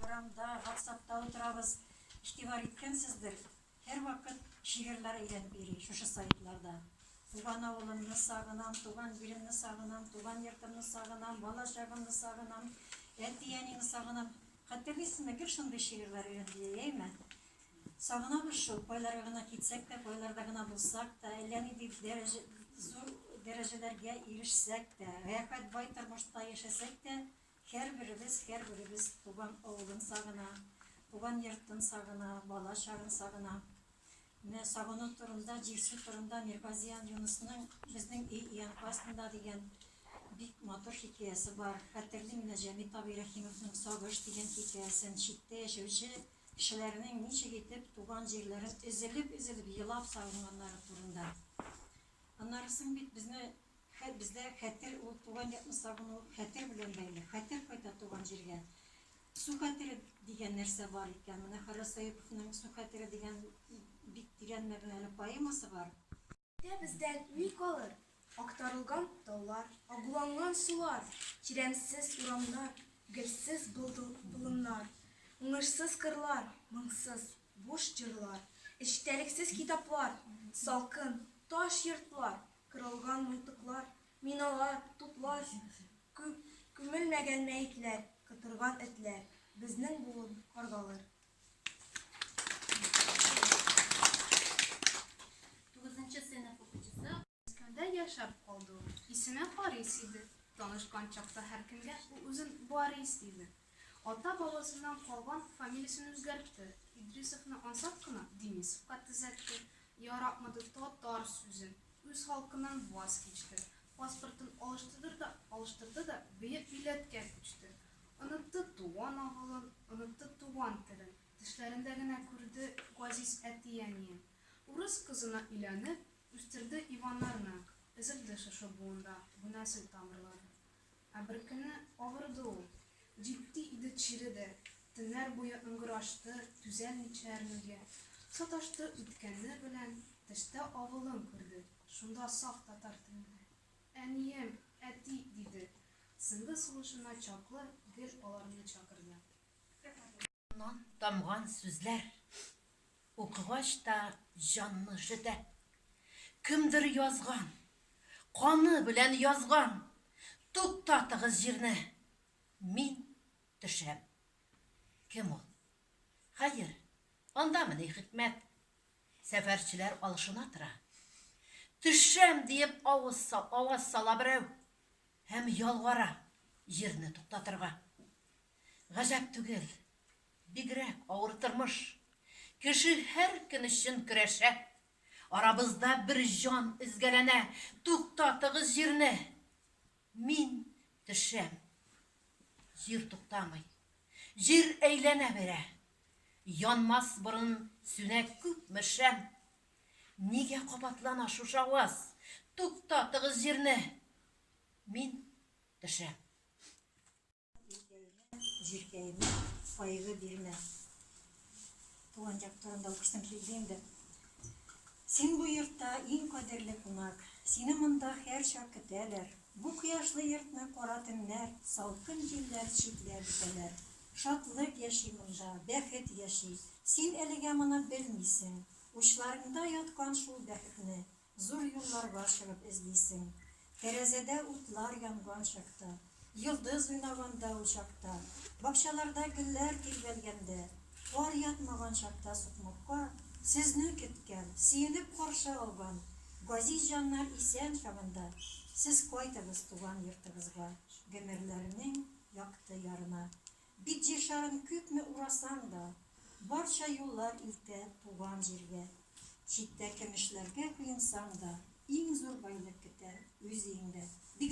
Урамда, WhatsApp-та утырабыз. Игътибар иткәнсездер, һәрвакыт шигырьләр әйләнеп йөри шушы сайтларда. Туган авылымны сагынам, туган җиремне сагынам, туган йортымны сагынам, бала чагымны сагынам, әти-әнине сагынам. Хәтерлисезме, гел шундый шигырьләр өйрәнеп йөри, әйме? Сагынабыз шул, кайларга гына китсәк тә, кайларда гына булсак та, әллә нинди дәрәҗә, зур дәрәҗәләргә ирешсәк тә, рәхәт, бай тормышта яшәсәк тә, Һәрберебез, һәрберебез туган авылын сагына, туган йортын сагына, бала чагын сагына. Менә сагыну турында, җирсү турында Мирбазиан Юнысның Безнең өй өянка астында дигән бик матур хикәясе бар. Хәтерлим менә Җәмит абый Рәхимовның Сагыш дигән хикәясен, читтә яшәүче кешеләрнең ничек итеп туган җирләрен өзелеп-өзелеп елап сагынганнары турында. Аннарысын бит безне Хәт бездә хәтер ул туган якны сагыну хәтер белән бәйле, хәтер кайта туган җиргә. Су хәтере дигән нәрсә бар икән, менә Харис Саиповның Су хәтере дигән бик тирән мәгънәле поэмасы бар. Хәтер бездән ни калыр? Актарылган таулар, агуланган сулар, тирәнсез урамнар, гөлсез болыннар, уңышсыз кырлар, моңсыз, буш җырлар, эчтәлексез китаплар, салкын, таш йортлар, Кырылган мылтыклар, миналар, туплар, Күмелмәгән мәетләр, кытырган этләр, Безнең буын каргалыр. Тугызынчы сыйныф укучысы. Мәскәүдә яшәп калды ул. Исеме Харис иде. Танышкан чакта һәркемгә ул үзен Барис диде. Ата бабасыннан калган фамилиясен үзгәртте, Идрисовны ансат кына Денисовка төзәтте, яратмады татар сүзен, үз халкыннан ваз кичте, паспортын алыштырды да алыштырды да бөек милләткә күчте, онытты туган авылын, онытты туган телен, төшләрендә генә күрде газиз әти-әниен. Урыс кызына өйләнеп, үстерде Иваннарны, өзелде шушы буында бу нәсел тамырлары. Ә беркөнне авырды ул. Җитди иде чире дә, төннәр буе ыңгырашты, түзәлмичә әрнүгә. Саташты үткәне белән, төштә авылын күрде, шунда саф татар телендә, Әнием, әти, диде. Сынды сулышына чаклы гел аларны чакырды. Аннан тамган сүзләр. Укыгач та җанны жөтә. Кемдер язган. Каны белән язган. Туктатыгыз җирне. Мин төшәм. Кем ул? Хәер, андамы ни хикмәт? Сәфәрчеләр алышына тора. Төшәм диеп авыз аваз сала берәү һәм ялвара җирне туктатырга. Гаҗәп түгел, бигрәк авыр тормыш. Кеше һәр көн өчен көрәшә. Арабызда бер җан өзгәләнә, туктатыгыз җирне! Мин төшәм. Җир туктамый. Җир әйләнә бирә. Янмас борын сүнә күпме шәм. Нигә кабатлана шушы аваз, Туктатыгыз җирне! Мин төшәм. Җиркәемә кайгы бирмә. Туган як турында укышсам килде инде. Син бу йортта иң кадерле кунак. Сине монда һәр чак көтәләр. Бу кояшлы йортны кара төннәр, салкын җилләр читләп үтәләр. Шатлык яши монда, бәхет яши. Син әлегә моны белмисең. Учларыңда яткан шул бәхетне Зур юлларга чыгып эзлисең. Тәрәзәдә утлар янган чакта. Йолдыз уйнаганда учакта. Бакчаларда гөлләр тирбәлгәндә. Кар ятмаган чакта сукмакка. Сезне көткән, сөенеп каршы алган. Газиз җаннар исән чагында. Сез кайтыгыз туган йортыгызга. Гомерләрнең якты ярына. Бит җиршарын күпме урасаң да, Барча юллар илтә туган җиргә. Читтә кемешләргә коенсаң да, Иң зур байлык көтә үз өеңдә. Бик